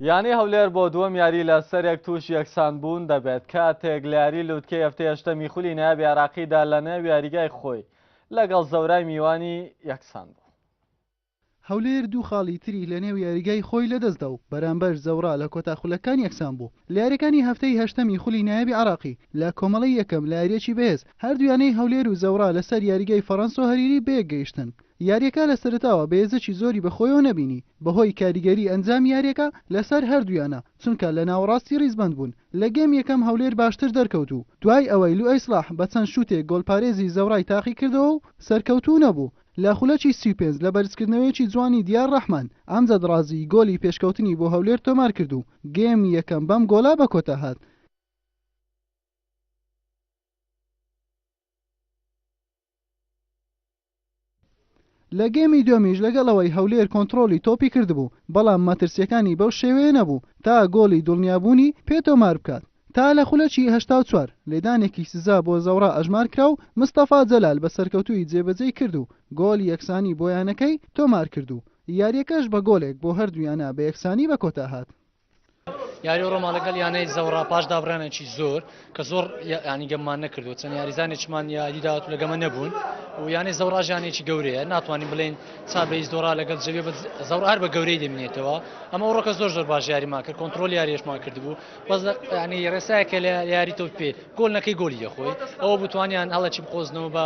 یانەی هەولێر بۆ دووەم یاری لە سەرێک تووشی یەکسان بوون دەبێت، کاتێک لە یاری لوتکەی هەفتەی هەشتەمی خولی نایابی عێراقیدا لە نێو یاریگای خۆی لەگەڵ زەورای میوانی یەکسان بوو. هەولێر دوو خاڵی تری لە نێو یاریگای خۆی لەدەستدا و بەرامبەر زەورا لە کۆتا خولەکان یەکسان بوو لە یارییەکانی هەفتەی هەشتەمی خولی نایابی عێراقی لە کۆمەڵەی یەکەم لە یارییەکی بەهێز هەردوو یانەی هەولێر و زەورا لەسەر یاریگای فەرەنسۆ هەریری بەیەک گەیشتن یارییەکە لە سەرەتاوە بەێزەکی زۆری بە خۆیەوە نەبینی بەهۆی کاریگەری ئەنجامی یارییەکە لەسەر هەردوویانە چونکە لە ناوەڕاستی ریزبەند بوون لە گێم یەکەم هەولێر باشتر دەرکەوت و دوای ئەوەی لوئەی سڵاح بە چەند شوتێک گۆڵپارێزی زەورای تاقیکردەوە و سەرکەوتوو نەبوو لە خولەکی سی و پێنج لە بەرزکردنەوەیەکی جوانی دیار رەحمان ئەمجەد رازی گۆلی پێشکەوتنی بۆ هەولێر تۆمارکرد و گێم یەکەم بەم گۆڵە بەکۆتاهات. لە گێمی دووەمیش لەگەڵ ئەوەی هەولێر کۆنتڕۆڵی تۆپی کردبوو، بەڵام مەترسییەکانی بەو شێوەیە نەبوو تا گۆڵی دڵنیابوونی پێ تۆمار بکات. تا لە خولەکی هەشتا و چوار، لێدانێکی سزا بۆ زەوڕا ئەژمار کرا و مستەفا جەلال بە سەرکەوتوویی جێبەجێی کرد و گۆڵی یەکسانی بۆ یانەکەی تۆمار کرد و یارییەکەش بە گۆڵێک بۆ هەردوو یانە بە یەکسانی بەکۆتا هات. یاری ڕۆما لەگەڵ یانەی زەوڕا پاش دابرانێکی زۆر کە زۆر ینی گەممان نەکردو چەند یاریزانێکمان یاریداات لەگەمە نەبوون و یانەی زەوراژانێکی گەورەیە ناتوانین بڵین چابەی زۆرا لەگەڵ جەوێ زەور هەر بە گەورەی دەمێنێتەوە ئەمە ڕۆکە زۆر زۆر باش یاریمان کرد کۆنتترۆل یاریشمان کردبوو بەس ینی ڕێسایەکە لە یاری تۆ پێ گۆل نەکەی گۆلی دەخۆی ئەوە بتوانیان هەڵەکی بقۆزنەوە بە